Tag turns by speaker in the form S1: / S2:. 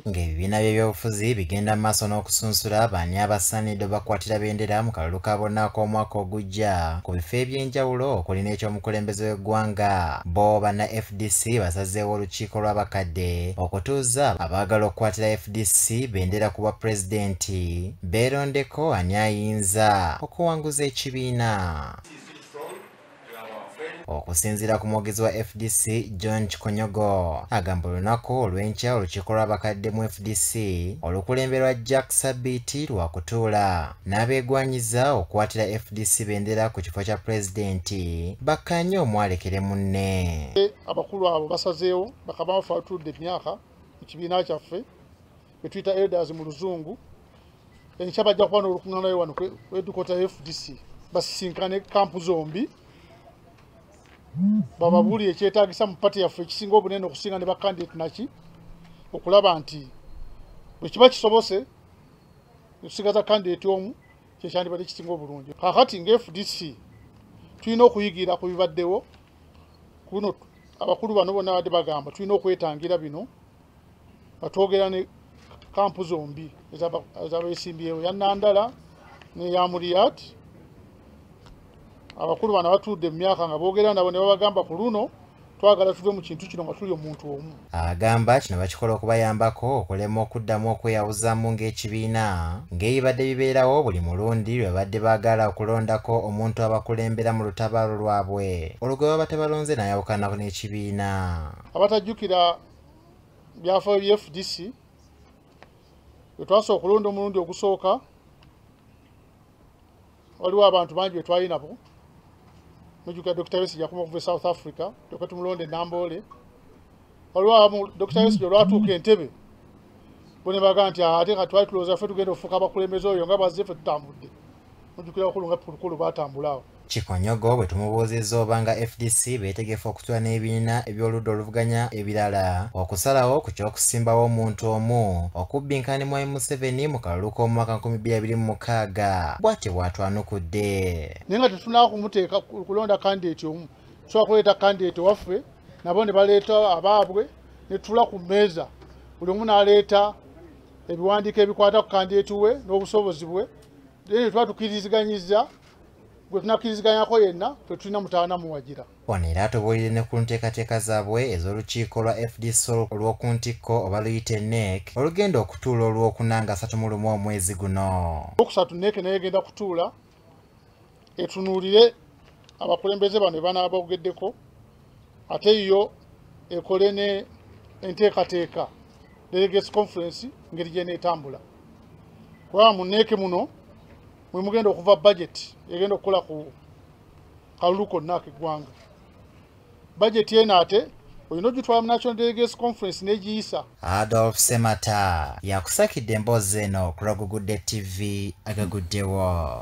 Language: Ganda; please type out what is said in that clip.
S1: ng'ebibiina by'ebyobufuzi bigenda mu maaso n'okusunsula baani abasaanidde bakwatira bendera mu kalulu ka bonna ak'omwaka ogujja ku bifo eby'enjawulo okuli n'eky'omukulembeze w'eggwanga bo banna fdc basazeewo olukiiko lw'abakadde okutuuza abaagala okukwatira fdc bendera ku bwa pulezidenti beerondeko ani ayinza okuwanguza ekibiina okusinziira ku mwogezi wa fdc john kikonyogo agamba olunaku olw'enkya olukiiko lw'abakadde mu fdc olukulemberwa jack sabiiti lwakutuula n'abeegwanyiza okukwatira fdc bendera ku kifo kya pulezidenti bakkaanye omwalekere munne abakulu abo
S2: basazeewo bakabaffe batudde emyaka mu kibiina kyaffe betuyita elders mu luzungu enkya bajja kuba n'olukuŋŋaanayo wano edukota fdc basisinkane kampu zombi bababuli ekyetagisa mu pati yaffe ekisinga obunene okusinga ne bakandidate naki okulaba nti bwekiba kisobose okusigaza kandidate omu kyekyandibadde kisinga obulungi kakati nga fdc tulina okuyigira ku bibaddewo kuno abakulu bano bona badde bagamba tulina okwetangira bino batwogera ne kampu zombi ezabesimbyewo yanandala neyamuriyat abakulu bana batuudde mu myaka nga boogera nabo ne babagamba ku luno twagala tuve mu kintu kino nga tuli omuntu omu agamba kino
S1: bakikola okubayambako okulema okuddamu okweyawuzamu ng'ekibiina ng'ebibadde bibeerawo buli mulundi lwe babadde baagala okulondako omuntu abakulembera mu lutabaalo lwabwe olwo gwe baba tebalonze n'ayawukanako n'ekibiina abatajjukira
S2: byafaayo bya fdc wetwasa okulonda omulundi ogusooka waliwo abantu bangi betwalinabo mujuka dr wesi jakuma okuva e south africa toka tumulonda enamboole waliwo abamu dr wesi olwatuuka entebe bonebaga nti ate katwali tulowooza fe tugenda ofuuka abakulembeze oyo nga bazze fe tutambudde mujukira wakulu nga pulukulu batambula awo Kikonyogo bwe
S1: tumubuuzizza oba nga FDC beetegefu okutula n'ebibiina eby'oludda oluvuganya ebirala okusalawo ku ky'okusimbawo omuntu omu okubbinkana ne Mwami Museveni mu kalulu k'omwaka 2026 bw'atyo bw'atwanukudde naye nga
S2: tetunaa kumuteeka kulonda kandideeti omu tusobola kuleeta kandideeti waffe nabo ne baleeta abaabwe ne tula ku mmeeza buli omu n'aleeta ebiwandiiko ebikwata ku kandideeti we n'obusobozi bwe naye tuba tukiriziganyiza gwe tunakkiriziganyako yenna fe tulina mutaana muwagira wano era atubuulire
S1: ne ku nteekateeka zaabwe ez'olukiiko lwa fdc olw'oku ntikko oba luyite nek olugenda okutuula olw'okuna nga asatu mu lumu omwezi guno okusatu nek naye
S2: egenda kutuula etunuulire abakulembeze bano banaaba bogeddeko ate yo ekole ne enteekateeka delegates conference ngeri gyeneetambula kubanga muneeke muno mwe mugenda okuva budget egenda okukola ku kalulu konna akeggwanga budget eno ate olina ogitwala mu national delegates conference negiyisa adolf semata
S1: yakusakidde emboozi eno kulagugudde tv agaguddewo